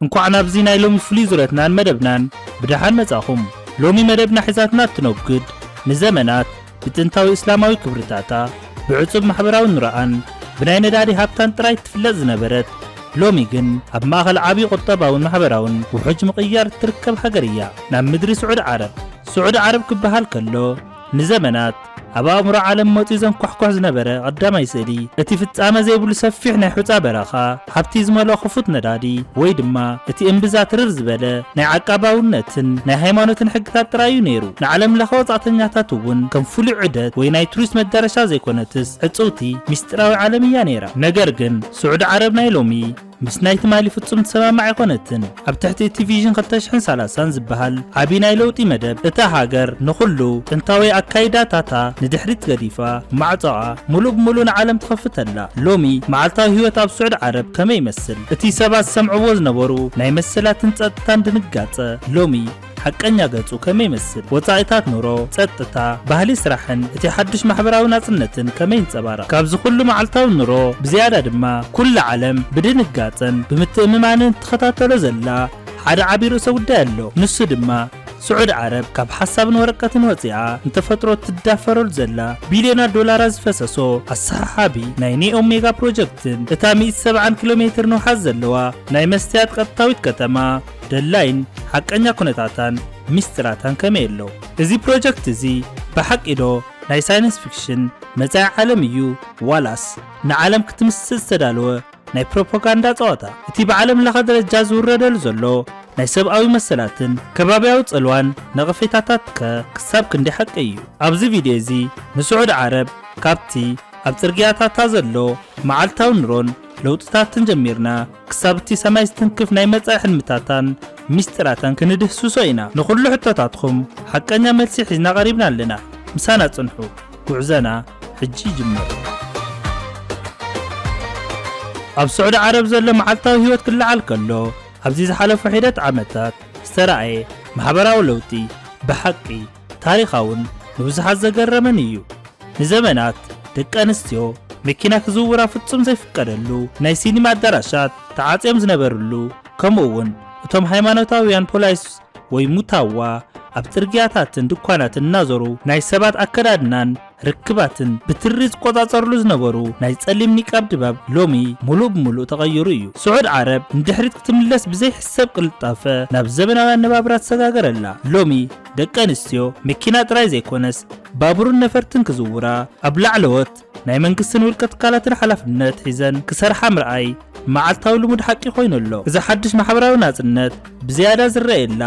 እንኳዕ ናብዚ ናይ ሎሚ ፍሉይ ዙረትናን መደብናን ብደሓን መጻኹም ሎሚ መደብና ሒዛትና እትነጉድ ንዘመናት ብጥንታዊ እስላማዊ ክብርታታ ብዕጹብ ማሕበራዊ ኑረኣን ብናይ ነዳዲ ሃብታን ጥራይ እትፍለጥ ዝነበረት ሎሚ ግን ኣብ ማእኸል ዓብዪ ቁጠባውን ማሕበራውን ውሑጅ ምቕያር እትርከብ ሃገር እያ፣ ናብ ምድሪ ስዑድ ዓረብ። ስዑድ ዓረብ ክበሃል ከሎ ንዘመናት ኣብ ኣእምሮ ዓለም መፂኡ ዘንኳሕኩሕ ዝነበረ ቐዳማይ ስእሊ እቲ ፍፃመ ዘይብሉ ሰፊሕ ናይ ሑፃ በረኻ፣ ሃብቲ ዝመልኦ ክፉት ነዳዲ ወይ ድማ እቲ እምብዛ ትርር ዝበለ ናይ ዓቃባውነትን ናይ ሃይማኖትን ሕግታት ጥራይ እዩ ነይሩ። ንዓለም ለኸ ወፃእተኛታት እውን ከም ፍሉይ ዑደት ወይ ናይ ቱሪስት መዳረሻ ዘይኮነትስ ዕፅውቲ ሚስጢራዊ ዓለም እያ ነይራ። ነገር ግን ስዑዲ ዓረብ ናይ ሎሚ ምስ ናይ ትማሊ ፍጹም ትሰማማዕ ኣይኮነትን። ኣብ ትሕቲ እቲ ቪዥን ክልተ ሽሕን ሰላሳን ዝበሃል ዓቢ ናይ ለውጢ መደብ፣ እታ ሃገር ንኹሉ ጥንታዊ ኣካይዳታታ ንድሕሪት ገዲፋ፣ ማዕጾኣ ምሉእ ብምሉእ ንዓለም ትኸፍት ኣላ። ሎሚ መዓልታዊ ህይወት ኣብ ስዑዲ ዓረብ ከመይ ይመስል? እቲ ሰባት ዝሰምዕዎ ዝነበሩ ናይ መሰላትን ጸጥታን ድንጋጸ፣ ሎሚ፣ ሓቀኛ ገጹ ከመይ ይመስል? ወጻኢታት ኑሮ፣ ጸጥታ፣ ባህሊ ስራሕን እቲ ሓድሽ ማሕበራዊ ናጽነትን ከመይ ይንጸባረቕ? ካብዚ ኩሉ መዓልታዊ ኑሮ ብዝያዳ ድማ ኩላ ዓለም ብድንጋጸን ብምትእምማንን እትኸታተሎ ዘላ ሓደ ዓቢ ርእሰ ጉዳይ ኣሎ። ንሱ ድማ ስዑድ ዓረብ ካብ ሓሳብን ወረቀትን ወጺኣ ንተፈጥሮ እትዳፈረሉ ዘላ ቢልዮናት ዶላራት ዝፈሰሶ ኣሰሓሓቢ ናይ ኔኦም ሜጋ ፕሮጀክትን እታ ሚእቲ ሰብዓን ኪሎ ሜትር ንውሓት ዘለዋ ናይ መስትያት ቀጥታዊት ከተማ ደላይን ሓቀኛ ኩነታታን ሚስጢራታን ከመይ ኣሎ? እዚ ፕሮጀክት እዚ ብሓቂ ዶ ናይ ሳይንስ ፊክሽን መጻኢ ዓለም እዩ ዋላስ ንዓለም ክትምስጥ ዝተዳለወ ናይ ፕሮፖጋንዳ ጸዋታ? እቲ ብዓለም ለኸ ደረጃ ዝውረደሉ ዘሎ ናይ ሰብኣዊ መሰላትን ከባብያዊ ጽልዋን ነቐፌታታት ከ ክሳብ ክንደይ ሓቂ እዩ? ኣብዚ ቪድዮ እዚ ንስዑድ ዓረብ ካብቲ ኣብ ጽርግያታታ ዘሎ መዓልታዊ ኑሮን ለውጥታትን ጀሚርና፣ ክሳብ እቲ ሰማይ ዝትንክፍ ናይ መጻኢ ሕልምታታን ሚስጢራታን ክንድህስሶ ኢና። ንኹሉ ሕቶታትኹም ሓቀኛ መልሲ ሒዝና ቀሪብና ኣለና። ምሳና ጽንሑ። ጉዕዘና ሕጂ ይጅምር። ኣብ ስዑዲ ዓረብ ዘሎ መዓልታዊ ህይወት ክለዓል ከሎ ኣብዚ ዝሓለፉ ሒደት ዓመታት ዝተራእየ ማሕበራዊ ለውጢ ብሓቂ ታሪኻውን ንብዙሓት ዘገረመን እዩ። ንዘመናት ደቂ ኣንስትዮ መኪና ክዝውራ ፍጹም ዘይፍቀደሉ፣ ናይ ሲኒማ ኣዳራሻት ተዓጽዮም ዝነበርሉ፣ ከምኡ'ውን እቶም ሃይማኖታውያን ፖላይስ ወይ ሙታዋ ኣብ ጽርግያታትን ድኳናትን እናዞሩ ናይ ሰባት ኣከዳድናን ርክባትን ብትሪ ዝቆጻጸርሉ ዝነበሩ ናይ ጸሊም ኒቃብ ድባብ ሎሚ ሙሉእ ብሙሉእ ተቐይሩ እዩ። ስዑድ ዓረብ ንድሕሪት ክትምለስ ብዘይሕሰብ ቅልጣፈ ናብ ዘበናዊ ኣነባብራ ትሰጋገረላ። ሎሚ ደቂ ኣንስትዮ መኪና ጥራይ ዘይኮነስ ባቡርን ነፈርትን ክዝውራ ኣብ ላዕለዎት ናይ መንግስትን ውልቀ ትካላትን ሓላፍነት ሒዘን ክሰርሓ ምርኣይ መዓልታዊ ልሙድ ሓቂ ኮይኑ ኣሎ። እዛ ሓድሽ ማሕበራዊ ናጽነት ብዝያዳ ዝረኣየላ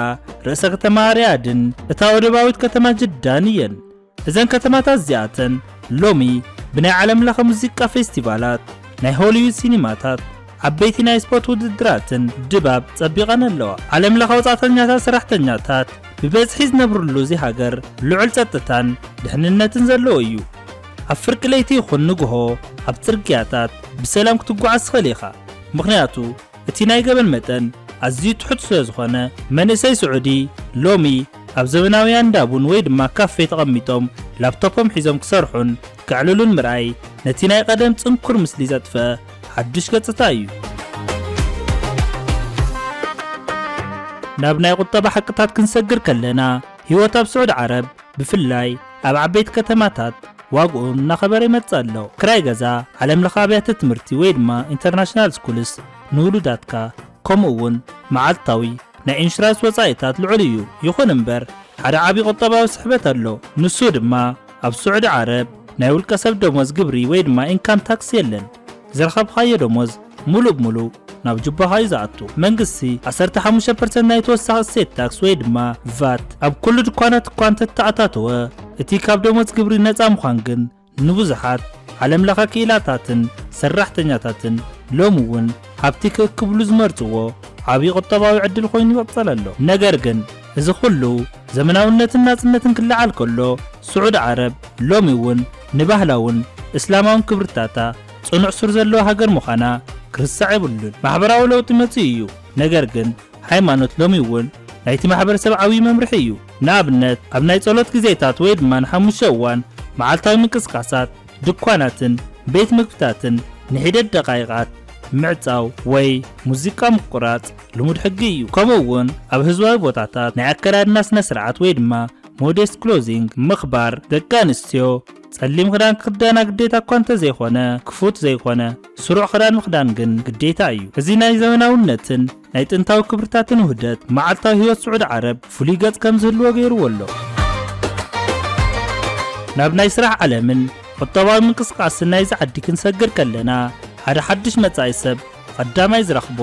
ርእሰ ከተማ ሪያድን እታ ወደባዊት ከተማ ጅዳን እየን። እዘን ከተማታት እዚኣተን ሎሚ ብናይ ዓለምለኸ ሙዚቃ ፌስቲቫላት፣ ናይ ሆሊውድ ሲኒማታት፣ ዓበይቲ ናይ ስፖርት ውድድራትን ድባብ ጸቢቐን ኣለዋ። ዓለምለኸ ወጻእተኛታት ሰራሕተኛታት ብበዝሒ ዝነብርሉ እዚ ሃገር ልዑል ጸጥታን ድሕንነትን ዘለዎ እዩ። ኣብ ፍርቂ ለይቲ ይኹን ንግሆ ኣብ ጽርግያታት ብሰላም ክትጓዓዝ ትኽእል ኢኻ፣ ምኽንያቱ እቲ ናይ ገበን መጠን ኣዝዩ ትሑት ስለ ዝኾነ፣ መንእሰይ ስዑዲ ሎሚ ኣብ ዘበናውያን እንዳ ቡን ወይ ድማ ካፌ ተቐሚጦም ላፕቶፖም ሒዞም ክሰርሑን ከዕልሉን ምርኣይ ነቲ ናይ ቐደም ጽንኩር ምስሊ ዘጥፍእ ሓዱሽ ገጽታ እዩ። ናብ ናይ ቁጠባ ሓቅታት ክንሰግር ከለና፣ ህይወት ኣብ ስዑዲ ዓረብ ብፍላይ ኣብ ዓበይቲ ከተማታት ዋግኡ እናኸበረ ይመጽእ ኣሎ። ክራይ ገዛ፣ ዓለምለኸ ኣብያተ ትምህርቲ ወይ ድማ ኢንተርናሽናል ስኩልስ ንውሉዳትካ፣ ከምኡ እውን መዓልታዊ ናይ ኢንሹራንስ ወጻኢታት ልዑል እዩ። ይኹን እምበር ሓደ ዓቢ ቁጠባዊ ስሕበት ኣሎ፣ ንሱ ድማ ኣብ ስዑዲ ዓረብ ናይ ውልቀ ሰብ ደሞዝ ግብሪ ወይ ድማ ኢንካም ታክስ የለን። ዝረኸብኻዮ ደሞዝ ሙሉእ ብሙሉእ ናብ ጁባኻ እዩ ዝኣቱ። መንግስቲ ዓሰርተ ሓሙሽተ ፐርሰንት ናይ ተወሳኺ እሴት ታክስ ወይ ድማ ቫት ኣብ ኩሉ ድኳናት እኳ እንተተኣታተወ፣ እቲ ካብ ደሞዝ ግብሪ ነፃ ምዃን ግን ንብዙሓት ዓለም ለኸ ክኢላታትን ሰራሕተኛታትን ሎሚ እውን ኣብቲ ክእክብሉ ዝመርፅዎ ዓብዪ ቁጠባዊ ዕድል ኮይኑ ይቕፅል ኣሎ። ነገር ግን። እዚ ኹሉ ዘመናውነትን ናጽነትን ክለዓል ከሎ፣ ስዑድ ዓረብ ሎሚ እውን ንባህላውን እስላማውን ክብርታታ ጽኑዕ ሱር ዘለዋ ሃገር ምዃና ክርሳዕ የብሉን። ማሕበራዊ ለውጢ መጺኡ እዩ፣ ነገር ግን ሃይማኖት ሎሚ እውን ናይቲ ማሕበረሰብ ዓብዪ መምርሒ እዩ። ንኣብነት ኣብ ናይ ጸሎት ግዜታት ወይ ድማ ንሓሙሽተ እዋን መዓልታዊ ምንቅስቓሳት፣ ድኳናትን ቤት ምግብታትን ንሒደት ደቓይቓት ምዕጻው ወይ ሙዚቃ ምቁራጽ፣ ልሙድ ሕጊ እዩ። ከምኡ እውን ኣብ ህዝባዊ ቦታታት ናይ ኣከዳድና ስነ ስርዓት ወይ ድማ ሞዴስት ክሎዚንግ ምኽባር፣ ደቂ ኣንስትዮ ጸሊም ክዳን ክኽደና ግዴታ እኳ እንተዘይኮነ ክፉት ዘይኮነ ስሩዕ ክዳን ምኽዳን ግን ግዴታ እዩ። እዚ ናይ ዘመናውነትን ናይ ጥንታዊ ክብርታትን ውህደት ንመዓልታዊ ህይወት ስዑድ ዓረብ ፍሉይ ገጽ ከም ዝህልዎ ገይርዎ ኣሎ። ናብ ናይ ስራሕ ዓለምን ቁጠባዊ ምንቅስቓስን ናይዚ ዓዲ ክንሰግር ከለና ሓደ ሓድሽ መጻኢ ሰብ ቐዳማይ ዝረኽቦ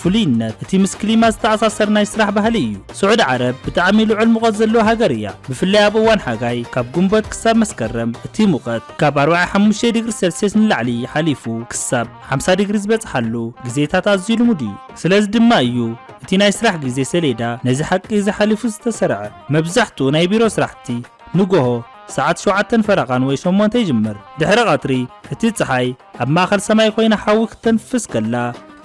ፍሉይነት እቲ ምስ ክሊማ ዝተኣሳሰር ናይ ስራሕ ባህሊ እዩ። ስዑድ ዓረብ ብጣዕሚ ልዑል ሙቐት ዘለዎ ሃገር እያ። ብፍላይ ኣብ እዋን ሓጋይ ካብ ግንቦት ክሳብ መስከረም እቲ ሙቐት ካብ ኣርብዓ ሓሙሽተ ዲግሪ ሰልስየስ ንላዕሊ ሓሊፉ ክሳብ ሓምሳ ዲግሪ ዝበፅሓሉ ግዜታት ኣዝዩ ልሙድ እዩ። ስለዚ ድማ እዩ እቲ ናይ ስራሕ ግዜ ሰሌዳ ነዚ ሓቂ እዚ ሓሊፉ ዝተሰርዐ። መብዛሕትኡ ናይ ቢሮ ስራሕቲ። ንጎሆ ሰዓት ሸውዓተን ፈረቓን ወይ ሸሞንተ ይጅምር። ድሕሪ ቐትሪ እቲ ጸሓይ ኣብ ማእከል ሰማይ ኮይና ሓዊ ክተንፍስ ከላ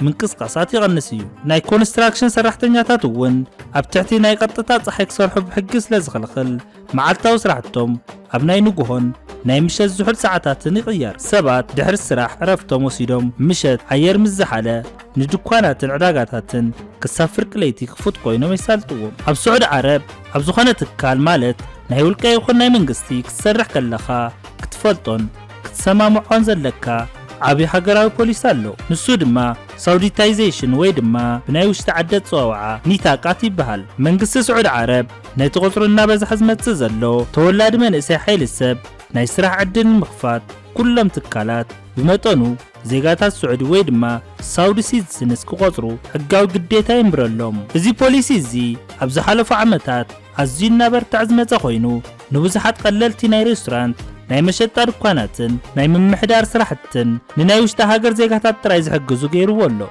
ምንቅስቓሳት ይቐንስ እዩ። ናይ ኮንስትራክሽን ሰራሕተኛታት እውን ኣብ ትሕቲ ናይ ቐጥታ ጸሓይ ክሰርሑ ብሕጊ ስለ ዝኽልኽል መዓልታዊ ስራሕቶም ኣብ ናይ ንጉሆን ናይ ምሸት ዝሑል ሰዓታትን ይቕየር። ሰባት ድሕሪ ስራሕ ዕረፍቶም ወሲዶም ምሸት ኣየር ምስ ዝሓለ፣ ንድኳናትን ዕዳጋታትን ክሳብ ፍርቂ ለይቲ ክፉት ኮይኖም የሳልጥዎም። ኣብ ስዑዲ ዓረብ ኣብ ዝኾነ ትካል ማለት ናይ ውልቀ ይኹን ናይ መንግስቲ ክትሰርሕ ከለኻ ክትፈልጦን ክትሰማምዖን ዘለካ ዓቢ ሃገራዊ ፖሊሲ ኣሎ። ንሱ ድማ ሳውዲታይዘሽን ወይ ድማ ብናይ ውሽጢ ዓዲ ኣጸዋውዓ ኒታቃት ይበሃል። መንግስቲ ስዑዲ ዓረብ ነቲ ቁጽሩ እናበዝሐ ዝመጽእ ዘሎ ተወላዲ መንእሰይ ሓይሊ ሰብ ናይ ስራሕ ዕድል ንምኽፋት ኩሎም ትካላት ብመጠኑ ዜጋታት ስዑዲ ወይ ድማ ሳውዲ ሲትዝንስ ክቖጽሩ ሕጋዊ ግዴታ የንብረሎም። እዚ ፖሊሲ እዚ ኣብ ዝሓለፉ ዓመታት ኣዝዩ እናበርትዐ ዝመጸ ኮይኑ፣ ንብዙሓት ቀለልቲ ናይ ሬስቶራንት፣ ናይ መሸጣ ድኳናትን ናይ ምምሕዳር ስራሕትን ንናይ ውሽጢ ሃገር ዜጋታት ጥራይ ዝሕግዙ ገይርዎ ኣሎ።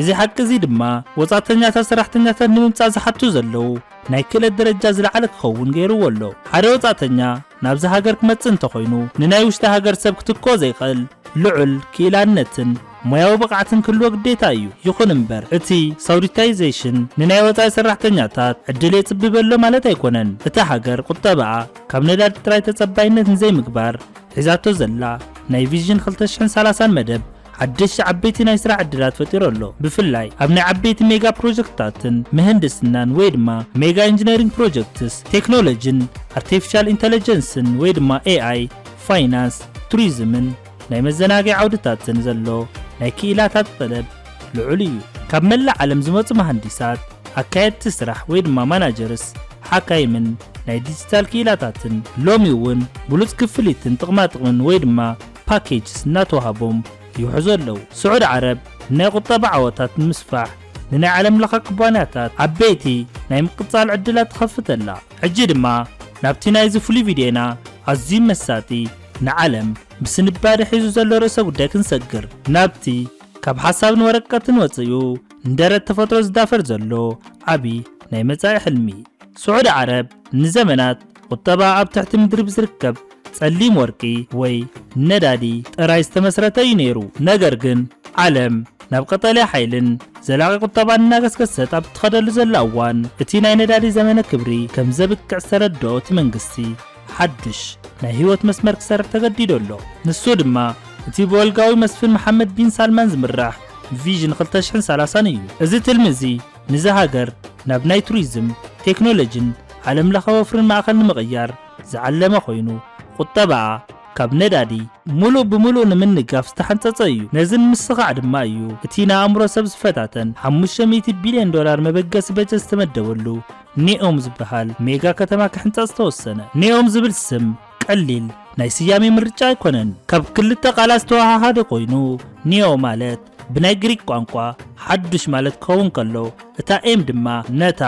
እዚ ሓቂ እዚ ድማ ወጻእተኛታት ሰራሕተኛታት ንምምጻእ ዝሓቱ ዘለዉ ናይ ክእለት ደረጃ ዝለዓለ ክኸውን ገይርዎ ኣሎ። ሓደ ወጻእተኛ ናብዚ ሃገር ክመጽእ እንተኾይኑ ንናይ ውሽጢ ሃገር ሰብ ክትክኦ ዘይኽእል ልዑል ክኢላነትን ሞያዊ ብቕዓትን ክህልዎ ግዴታ እዩ። ይኹን እምበር እቲ ሳውዲታይዜሽን ንናይ ወጻኢ ሰራሕተኛታት ዕድል የጽብብ ኣሎ ማለት ኣይኮነን። እታ ሃገር ቁጠባኣ ካብ ነዳዲ ጥራይ ተጸባይነት ንዘይምግባር ሒዛቶ ዘላ ናይ ቪዥን ክልተ ሽሕን ሰላሳን መደብ ሓደሽቲ ዓበይቲ ናይ ስራሕ ዕድላት ፈጢሩ ኣሎ። ብፍላይ ኣብ ናይ ዓበይቲ ሜጋ ፕሮጀክትታትን ምህንድስናን ወይ ድማ ሜጋ ኢንጂነሪንግ ፕሮጀክትስ፣ ቴክኖሎጂን ኣርቲፊሻል ኢንተለጀንስን ወይ ድማ AI፣ ፋይናንስ፣ ቱሪዝምን ናይ መዘናግዒ ዓውድታትን ዘሎ ናይ ክኢላታት ጠለብ ልዑል እዩ። ካብ መላእ ዓለም ዝመጹ መሃንዲሳት፣ ኣካየድቲ ስራሕ ወይ ድማ ማናጀርስ፣ ሓካይምን ናይ ዲጂታል ክኢላታትን ሎሚ እውን ብሉጽ ክፍሊትን ጥቕማጥቕምን ወይ ድማ ፓኬጅስ እናተዋህቦም ይውሕዙ ኣለዉ። ስዑድ ዓረብ ንናይ ቁጠባ ዓወታት ንምስፋሕ ንናይ ዓለም ለኸ ኩባንያታት ዓበይቲ ናይ ምቅፃል ዕድላት ትኸፍት ኣላ። ሕጂ ድማ ናብቲ ናይዚ ፍሉይ ቪድዮና ኣዝዩ መሳጢ ንዓለም ብስንባደ ሒዙ ዘሎ ርእሰ ጉዳይ ክንሰግር። ናብቲ ካብ ሓሳብን ወረቀትን ወፂኡ ንደረት ተፈጥሮ ዝዳፈር ዘሎ ዓብዪ ናይ መፃኢ ሕልሚ። ስዑድ ዓረብ ንዘመናት ቁጠባ ኣብ ትሕቲ ምድሪ ብዝርከብ ጸሊም ወርቂ ወይ ነዳዲ ጥራይ ዝተመስረተ እዩ ነይሩ። ነገር ግን ዓለም ናብ ቀጠልያ ሓይልን ዘላቒ ቁጠባን እናገስገሰት ኣብ እትኸደሉ ዘላ እዋን እቲ ናይ ነዳዲ ዘመነ ክብሪ ከም ዘብቅዕ ዝተረድኦ እቲ መንግስቲ ሓድሽ ናይ ህይወት መስመር ክሰርሕ ተገዲዶ ኣሎ። ንሱ ድማ እቲ ብወልጋዊ መስፍን መሓመድ ቢን ሳልማን ዝምራሕ ቪዥን 2030 እዩ። እዚ ትልሚ እዚ ንዛ ሃገር ናብ ናይ ቱሪዝም፣ ቴክኖሎጂን ዓለም ለኸ ወፍሪን ማእኸል ንምቕያር ዝዓለመ ኮይኑ ቑጠባኣ ካብ ነዳዲ ሙሉእ ብሙሉእ ንምንጋፍ ዝተሓንፀፀ እዩ። ነዚ ንምስኻዕ ድማ እዩ እቲ ንኣእምሮ ሰብ ዝፈታተን ሓሙሽተ ሚእቲ ቢሊየን ዶላር መበገሲ በጀት ዝተመደበሉ ኔኦም ዝበሃል ሜጋ ከተማ ክሕንፀፅ ዝተወሰነ። ኔኦም ዝብል ስም ቀሊል ናይ ስያሜ ምርጫ ኣይኮነን። ካብ ክልተ ቃላት ዝተወሃሃደ ኮይኑ፣ ኒዮ ማለት ብናይ ግሪክ ቋንቋ ሓዱሽ ማለት ክኸውን ከሎ፣ እታ ኤም ድማ ነታ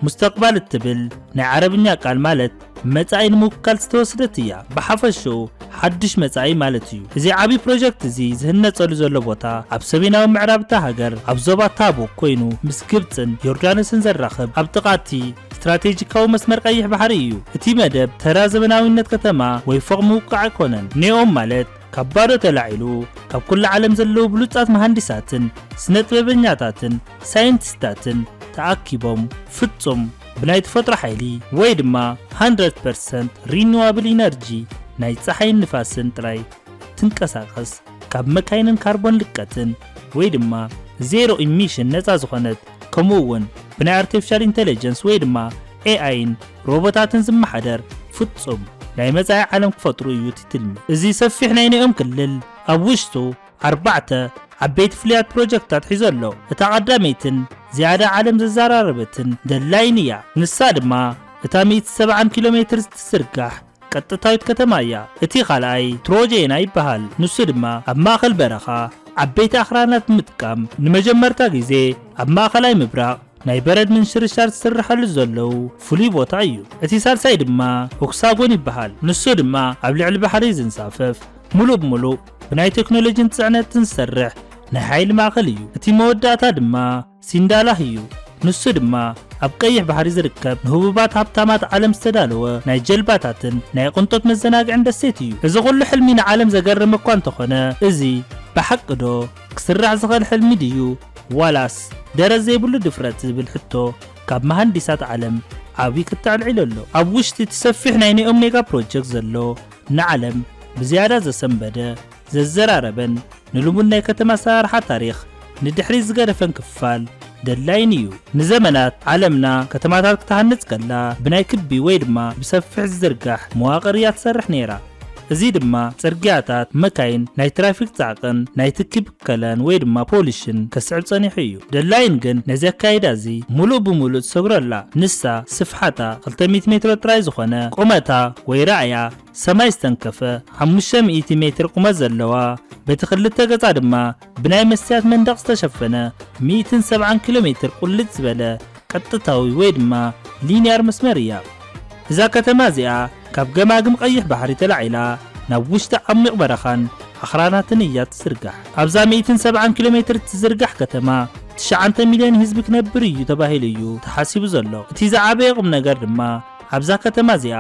ሙስተቅባል እትብል ናይ ዓረብኛ ቃል ማለት መጻኢ ንምውካል ዝተወስደት እያ። ብሓፈሽኡ ሓዱሽ መጻኢ ማለት እዩ። እዚ ዓቢ ፕሮጀክት እዚ ዝህነጸሉ ዘሎ ቦታ ኣብ ሰሜናዊ ምዕራብ እታ ሃገር ኣብ ዞባ ታቡክ ኮይኑ ምስ ግብጽን ዮርዳኖስን ዘራኽብ ኣብ ጥቓ እቲ ስትራቴጂካዊ መስመር ቀይሕ ባሕሪ እዩ። እቲ መደብ ተራ ዘመናዊነት ከተማ ወይ ፎቕ ምውቃዕ ኣይኮነን። ኔኦም ማለት ካብ ባዶ ተላዒሉ ካብ ኩሉ ዓለም ዘለዉ ብሉጻት መሃንዲሳትን ስነጥበበኛታትን ሳይንቲስታትን ተኣኪቦም ፍጹም ብናይ ተፈጥሮ ሓይሊ ወይ ድማ ሃንድረድ ፐርሰንት ሪኒዋብል ኢነርጂ ናይ ጸሓይን ንፋስን ጥራይ ትንቀሳቐስ ካብ መካይንን ካርቦን ልቀትን ወይ ድማ ዜሮ ኢሚሽን ነጻ ዝኾነት ከምኡ እውን ብናይ ኣርቲፊሻል ኢንተለጀንስ ወይ ድማ ኤኣይን ሮቦታትን ዝመሓደር ፍፁም ናይ መጻኢ ዓለም ክፈጥሩ እዩ እቲ ትልሚ። እዚ ሰፊሕ ናይ ኒኦም ክልል ኣብ ውሽጡ ኣርባዕተ ዓበይቲ ፍሉያት ፕሮጀክትታት ሒዙ ኣሎ። እታ ቀዳመይትን ዝያዳ ዓለም ዘዘራረበትን ደላይን እያ። ንሳ ድማ እታ ሚእቲ ሰብዓን ኪሎ ሜትር እትዝርጋሕ ቀጥታዊት ከተማ እያ። እቲ ኻልኣይ ትሮጀና ይበሃል፣ ንሱ ድማ ኣብ ማእከል በረኻ ዓበይቲ ኣኽራናት ብምጥቃም ንመጀመርታ ግዜ ኣብ ማእከላይ ምብራቕ ናይ በረድ ምንሽርሻር ዝስርሓሉ ዘለው ፍሉይ ቦታ እዩ። እቲ ሳልሳይ ድማ ሆክሳጎን ይበሃል፣ ንሱ ድማ ኣብ ልዕሊ ባሕሪ ዝንሳፈፍ ምሉእ ብምሉእ ብናይ ቴክኖሎጂን ጽዕነትን ዝሰርሕ ናይ ሓይሊ ማእከል እዩ። እቲ መወዳእታ ድማ። ሲንዳላህ እዩ። ንሱ ድማ ኣብ ቀይሕ ባሕሪ ዝርከብ ንህቡባት ሃብታማት ዓለም ዝተዳለወ ናይ ጀልባታትን ናይ ቕንጦት መዘናግዕን ደሴት እዩ። እዚ ኹሉ ሕልሚ ንዓለም ዘገርም እኳ እንተኾነ እዚ ብሓቂ ዶ ክስራሕ ዝኸል ሕልሚ ድዩ ዋላስ ደረት ዘይብሉ ድፍረት ዝብል ሕቶ ካብ መሃንዲሳት ዓለም ዓብይ ክት ኣልዒሉ ኣሎ። ኣብ ውሽጢ እቲ ሰፊሕ ናይ ኔኦምኔጋ ፕሮጀክት ዘሎ ንዓለም ብዝያዳ ዘሰንበደ፣ ዘዘራረበን ንልሙድ ናይ ከተማ ኣሰራርሓ ታሪኽ ንድሕሪት ዝገደፈን ክፋል ደላይን እዩ። ንዘመናት ዓለምና ከተማታት ክትሃንጽ ከላ ብናይ ክቢ ወይ ድማ ብሰፊሕ ዝዝርጋሕ መዋቕር እያ ትሰርሕ ነይራ። እዚ ድማ ጽርግያታት፣ መካይን፣ ናይ ትራፊክ ጻዕቅን ናይ ትኪ ብከለን ወይ ድማ ፖሊሽን ከስዕብ ጸኒሑ እዩ። ደላይን ግን ነዚ ኣካይዳ እዚ ምሉእ ብምሉእ ትሰግሮ ኣላ። ንሳ ስፍሓታ ክልተ ሚእቲ ሜትሮ ጥራይ ዝኾነ ቁመታ ወይ ራእያ፣ ሰማይ ዝተንከፈ ሓሙሽተ ሚእቲ ሜትር ቁመት ዘለዋ በቲ ክልተ ገጻ ድማ ብናይ መስትያት መንደቕ ዝተሸፈነ ሚእትን ሰብዓን ኪሎ ሜትር ቁልጭ ዝበለ ቀጥታዊ ወይ ድማ ሊንያር መስመር እያ። እዛ ከተማ እዚኣ ካብ ገማግም ቐይሕ ባሕሪ ተላዒላ ናብ ውሽጢ ዓሚቕ በረኻን ኣኽራናትን እያ እትዝርጋሕ። ኣብዛ ሚእትን ሰብዓን ኪሎ ሜትር እትዝርጋሕ ከተማ ትሽዓንተ ሚልዮን ህዝቢ ክነብር እዩ ተባሂሉ እዩ ተሓሲቡ ዘሎ። እቲ ዝዓበየ ቁምነገር ድማ ኣብዛ ከተማ እዚኣ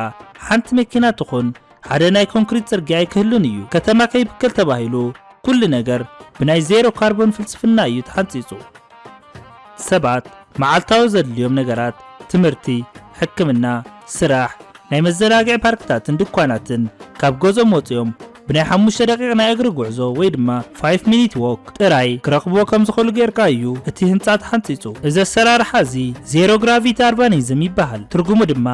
ሓንቲ መኪና ትኹን ሓደ ናይ ኮንክሪት ጽርግያ ኣይክህሉን እዩ። ከተማ ከይብከል ተባሂሉ ኩሉ ነገር ብናይ ዜሮ ካርቦን ፍልስፍና እዩ ተሓንጺጹ። ሰባት መዓልታዊ ዘድልዮም ነገራት፣ ትምህርቲ፣ ሕክምና፣ ስራሕ፣ ናይ መዘናግዒ ፓርክታትን ድኳናትን፣ ካብ ገዝኦም ወጺኦም ብናይ ሓሙሽተ ደቂቕ ናይ እግሪ ጉዕዞ ወይ ድማ Five Minute Walk ጥራይ ክረኽብዎ ከም ዝኽእሉ ጌርካ እዩ እቲ ህንጻ ተሓንጺጹ። እዚ ኣሰራርሓ እዚ ዜሮ ግራቪቲ ኣርባኒዝም ይበሃል፣ ትርጉሙ ድማ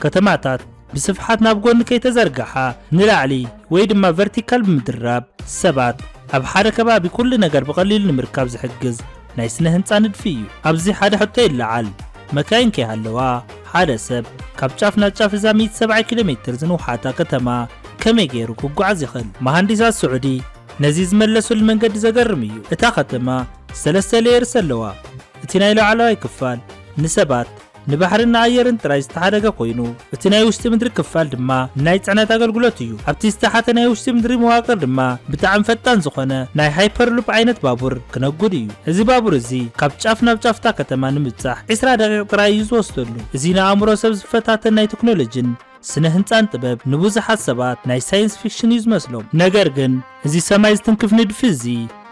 ከተማታት ብስፍሓት ናብ ጎኒ ከይተዘርግሓ ንላዕሊ ወይ ድማ ቨርቲካል ብምድራብ ሰባት ኣብ ሓደ ከባቢ ኩሉ ነገር ብቐሊሉ ንምርካብ ዝሕግዝ ናይ ስነ ህንጻ ንድፊ እዩ። ኣብዚ ሓደ ሕቶ ይለዓል፣ መካይን ከይሃለዋ ሓደ ሰብ ካብ ጫፍ ናብ ጫፍ እዛ ሚእቲ ሰብዓይ ኪሎ ሜትር ዝንውሓታ ከተማ ከመይ ገይሩ ክጓዓዝ ይኽእል? መሃንዲሳት ስዑዲ ነዚ ዝመለሱሉ መንገዲ ዘገርም እዩ። እታ ከተማ ሰለስተ ሌየርስ ኣለዋ፣ እቲ ናይ ላዕለዋይ ክፋል ንሰባት ንባሕርን ንኣየርን ጥራይ ዝተሓደገ ኮይኑ፣ እቲ ናይ ውሽጢ ምድሪ ክፋል ድማ ንናይ ጽዕነት ኣገልግሎት እዩ። ኣብቲ ዝተሓተ ናይ ውሽጢ ምድሪ መዋቅር ድማ ብጣዕሚ ፈጣን ዝኾነ ናይ ሃይፐርሉፕ ዓይነት ባቡር ክነጉድ እዩ። እዚ ባቡር እዚ ካብ ጫፍ ናብ ጫፍ እታ ከተማ ንምብጻሕ ዕስራ ደቂቕ ጥራይ እዩ ዝወስደሉ። እዚ ንኣእምሮ ሰብ ዝፈታተን ናይ ተክኖሎጂን ስነ ህንጻን ጥበብ ንብዙሓት ሰባት ናይ ሳይንስ ፊክሽን እዩ ዝመስሎም። ነገር ግን እዚ ሰማይ ዝትንክፍ ንድፊ እዚ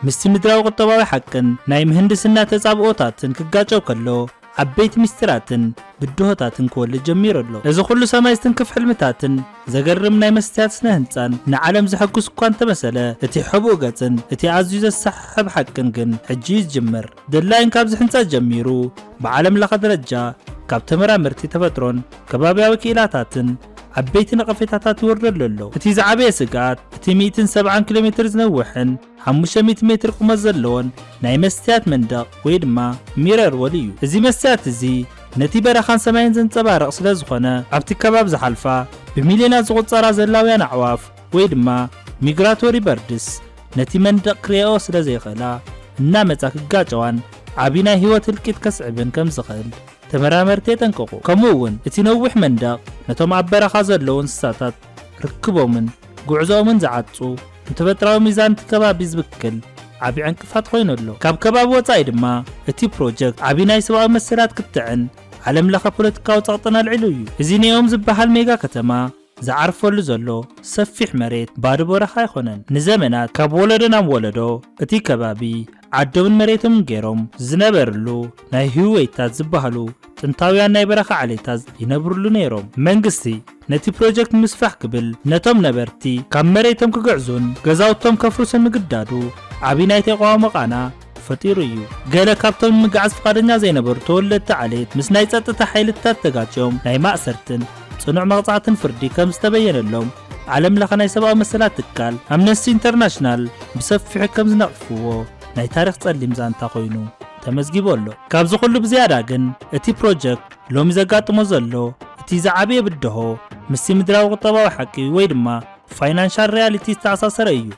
ምስቲ ምድራዊ ቁጠባዊ ሓቅን ናይ ምህንድስና ተጻብኦታትን ክጋጨው ከሎ ዓበይቲ ምስጢራትን ብድሆታትን ክወልድ ጀሚሩ ኣሎ። እዚ ኩሉ ሰማይ ዝትንክፍ ሕልምታትን ዘገርም ናይ መስትያት ስነ ህንጻን ንዓለም ዘሐጉስ እኳ እንተመሰለ፣ እቲ ሕቡእ ገጽን እቲ ኣዝዩ ዘሰሓሕብ ሓቅን ግን ሕጂ እዩ ዝጅምር። ደድላይን ካብ ዝሕንጸጽ ጀሚሩ ብዓለም ለኸ ደረጃ ካብ ተመራመርቲ ተፈጥሮን ከባብያዊ ክኢላታትን ዓበይቲ ነቐፌታታት ይወርደሉ ኣሎ። እቲ ዝዓበየ ስግኣት እቲ ሚእትን ሰብዓን ኪሎሜትር ዝነውሕን፣ ሓሙሽተ ሚእቲ ሜትር ቁመት ዘለዎን ናይ መስትያት መንደቕ ወይ ድማ ሚረር ወል እዩ። እዚ መስትያት እዚ ነቲ በረኻን ሰማይን ዘንጸባርቕ ስለ ዝኾነ ኣብቲ ከባቢ ዝሓልፋ ብሚልዮናት ዝቑጸራ ዘላውያን ኣዕዋፍ ወይ ድማ ሚግራቶሪ በርድስ ነቲ መንደቕ ክሪኣኦ ስለ ዘይኽእላ እናመጻ ክጋጨዋን ዓቢ ናይ ህይወት ህልቂት ከስዕብን ከም ዝኽእል ተመራመርቲ የጠንቅቑ። ከምኡ እውን እቲ ነዊሕ መንደቕ ነቶም ኣብ በረኻ ዘለዉ እንስሳታት ርክቦምን ጉዕዞኦምን ዝዓጹ፣ ንተፈጥራዊ ሚዛን እቲ ከባቢ ዝብክል ዓቢ ዕንቅፋት ኮይኑ ኣሎ። ካብ ከባቢ ወጻኢ ድማ እቲ ፕሮጀክት ዓቢ ናይ ሰብኣዊ መሰላት ክትዕን ዓለም ለኸ ፖለቲካዊ ጸቕጥን ኣልዒሉ እዩ። እዚ ኔኦም ዝበሃል ሜጋ ከተማ ዝዓርፈሉ ዘሎ ሰፊሕ መሬት ባዶ በረኻ ኣይኮነን። ንዘመናት ካብ ወለዶ ናብ ወለዶ እቲ ከባቢ ዓዶምን መሬቶምን ገይሮም ዝነበርሉ ናይ ህውይታት ዝበሃሉ ጥንታውያን ናይ በረኻ ዓሌታት ይነብርሉ ነይሮም። መንግስቲ ነቲ ፕሮጀክት ንምስፋሕ ክብል ነቶም ነበርቲ ካብ መሬቶም ክግዕዙን ገዛውቶም ከፍርሱን ምግዳዱ ዓብዪ ናይ ተቓውሞ ቃና ፈጢሩ እዩ። ገለ ካብቶም ንምግዓዝ ፍቓደኛ ዘይነበሩ ተወለድቲ ዓሌት ምስ ናይ ጸጥታ ሓይልታት ተጋጭዮም ናይ ማእሰርትን ጽኑዕ መቕጻዕትን ፍርዲ ከም ዝተበየነሎም ዓለም ለኸ ናይ ሰብኣዊ መሰላት ትካል ኣምነስቲ ኢንተርናሽናል ብሰፊሑ ከም ዝነቕፍዎ ናይ ታሪኽ ጸሊም ዛንታ ኮይኑ ተመዝጊቡ ኣሎ። ካብዚ ኩሉ ብዝያዳ ግን እቲ ፕሮጀክት ሎሚ ዘጋጥሞ ዘሎ እቲ ዝዓበየ ብድሆ ምስቲ ምድራዊ ቁጠባዊ ሓቂ ወይ ድማ ፋይናንሻል ሪያሊቲ ዝተኣሳሰረ እዩ።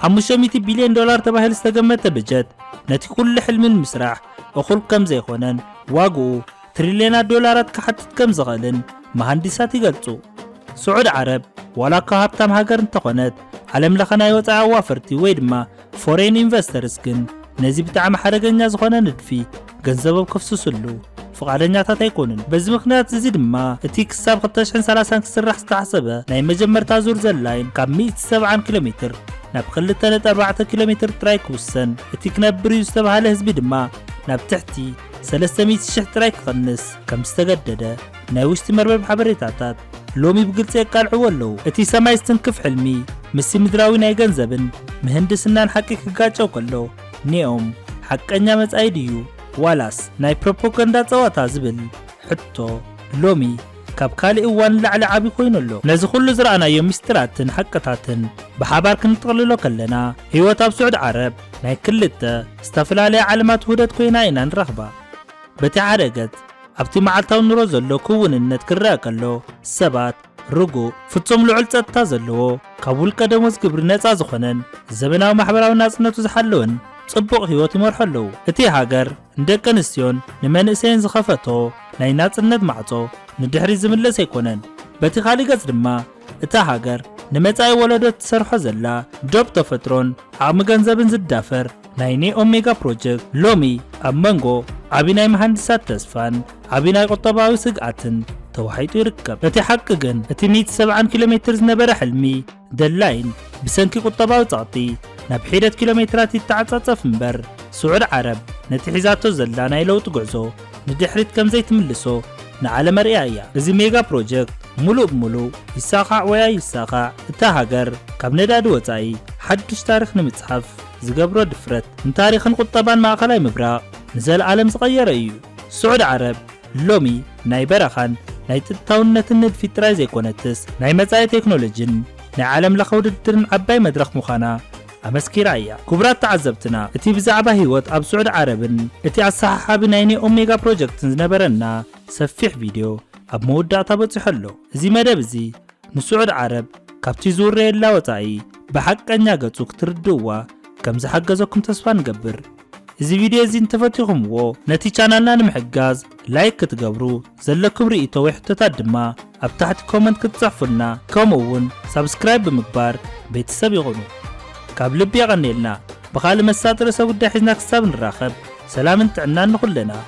ሓሙሽተ ሚእቲ ቢልዮን ዶላር ተባሂሉ ዝተገመተ በጀት ነቲ ኩሉ ሕልሚ ንምስራሕ እኹል ከም ዘይኮነን ዋግኡ ትሪልዮናት ዶላራት ክሓትት ከም ዝኽእልን መሃንዲሳት ይገልጹ። ስዑድ ዓረብ ዋላኳ ሃብታም ሃገር እንተኾነት፣ ዓለም ለኸ ናይ ወጻኢ ኣዋፈርቲ ወይ ድማ ፎሬን ኢንቨስተርስ ግን ነዚ ብጣዕሚ ሓደገኛ ዝኾነ ንድፊ ገንዘቦም ከፍስስሉ ፍቓደኛታት ኣይኮኑን። በዚ ምኽንያት እዚ ድማ እቲ ክሳብ 2030 ክስራሕ ዝተሓሰበ ናይ መጀመርታ ዙር ዘላይን ካብ 170 ኪሎ ሜትር ናብ 2.4 ኪሎ ሜትር ጥራይ ክውሰን፣ እቲ ክነብር እዩ ዝተብሃለ ህዝቢ ድማ ናብ ትሕቲ ሰለስተ ሚእቲ ሽሕ ጥራይ ክቕንስ ከም ዝተገደደ ናይ ውሽጢ መርበብ ሓበሬታታት ሎሚ ብግልጺ የቃልዕዎ ኣለዉ። እቲ ሰማይ ዝትንክፍ ሕልሚ ምስቲ ምድራዊ ናይ ገንዘብን ምህንድስናን ሓቂ ክጋጨው ከሎ ኔኦም ሓቀኛ መጻኢ ድዩ ዋላስ ናይ ፕሮፖጋንዳ ጸዋታ ዝብል ሕቶ ሎሚ ካብ ካልእ እዋን ንላዕሊ ዓቢ ኮይኑ ኣሎ። ነዚ ኩሉ ዝረኣናዮ ምስጢራትን ሓቅታትን ብሓባር ክንጥቕልሎ ከለና ህይወት ኣብ ስዑድ ዓረብ ናይ ክልተ ዝተፈላለያ ዓለማት ውህደት ኮይና ኢና ንረኽባ። በቲ ሓደ ገጽ፣ ኣብቲ መዓልታዊ ኑሮ ዘሎ ክውንነት ክረኣ ከሎ፣ ሰባት ርጉእ፣ ፍጹም ልዑል ጸጥታ ዘለዎ፣ ካብ ውልቀ ደሞዝ ግብሪ ነጻ ዝኾነን ዘበናዊ ማሕበራዊ ናጽነቱ ዝሓለወን ጽቡቕ ህይወት ይመርሑ ኣለዉ። እቲ ሃገር ንደቂ ኣንስትዮን ንመንእሰይን ዝኸፈቶ ናይ ናጽነት ማዕጾ ንድሕሪት ዝምለስ ኣይኮነን። በቲ ካልእ ገጽ ድማ፣ እታ ሃገር ንመጻኢ ወለዶ እትሰርሖ ዘላ ዶብ ተፈጥሮን ዓቕሚ ገንዘብን ዝዳፈር ናይ ኔኦም ሜጋ ፕሮጀክት ሎሚ ኣብ መንጎ ዓቢ ናይ መሃንድሳት ተስፋን ዓቢ ናይ ቁጠባዊ ስግኣትን ተዋሒጡ ይርከብ። እቲ ሓቂ ግን እቲ ሚእቲ ሰብዓን ኪሎ ሜትር ዝነበረ ሕልሚ ደላይን ብሰንኪ ቁጠባዊ ጸቕጢ ናብ ሒደት ኪሎ ሜትራት ይተዓጻጸፍ እምበር ስዑድ ዓረብ ነቲ ሒዛቶ ዘላ ናይ ለውጢ ጉዕዞ ንድሕሪት ከም ዘይትምልሶ ንዓለም ኣርእያ እያ። እዚ ሜጋ ፕሮጀክት ሙሉእ ብሙሉእ ይሳኻዕ ወይ ኣይሳኻዕ እታ ሃገር ካብ ነዳዲ ወፃኢ ሓዱሽ ታሪኽ ንምፅሓፍ ዝገብሮ ድፍረት ንታሪኽን ቁጠባን ማእኸላይ ምብራቕ ንዘልኣለም ዝቐየረ እዩ። ስዑድ ዓረብ ሎሚ ናይ በረኻን ናይ ፅጥታውነትን ንድፊት ጥራይ ዘይኮነትስ ናይ መፃኢ ቴክኖሎጂን ናይ ዓለም ለኸ ውድድርን ዓባይ መድረኽ ምዃና ኣመስኪራ እያ። ክቡራት ተዓዘብትና እቲ ብዛዕባ ህይወት ኣብ ስዑድ ዓረብን እቲ ኣሰሓሓቢ ናይ ኔኦ ሜጋ ፕሮጀክትን ዝነበረና ሰፊሕ ቪድዮ ኣብ መወዳእታ በጺሑ ኣሎ። እዚ መደብ እዚ ንስዑድ ዓረብ ካብቲ ዝውረየላ ወጻኢ ብሓቀኛ ገጹ ክትርድእዋ ከም ዝሓገዘኩም ተስፋ ንገብር። እዚ ቪድዮ እዚ እንተፈቲኹምዎ ነቲ ቻናልና ንምሕጋዝ ላይክ ክትገብሩ ዘለኩም ርእይቶ ወይ ሕቶታት ድማ ኣብ ታሕቲ ኮመንት ክትጽሕፉልና ከምኡ እውን ሳብስክራይብ ብምግባር ቤተሰብ ይኹኑ ካብ ልቢ የቐንየልና ብኻልእ መሳጢ ርእሰ ጉዳይ ሒዝና ክሳብ ንራኸብ ሰላምን ጥዕናን ንኹልና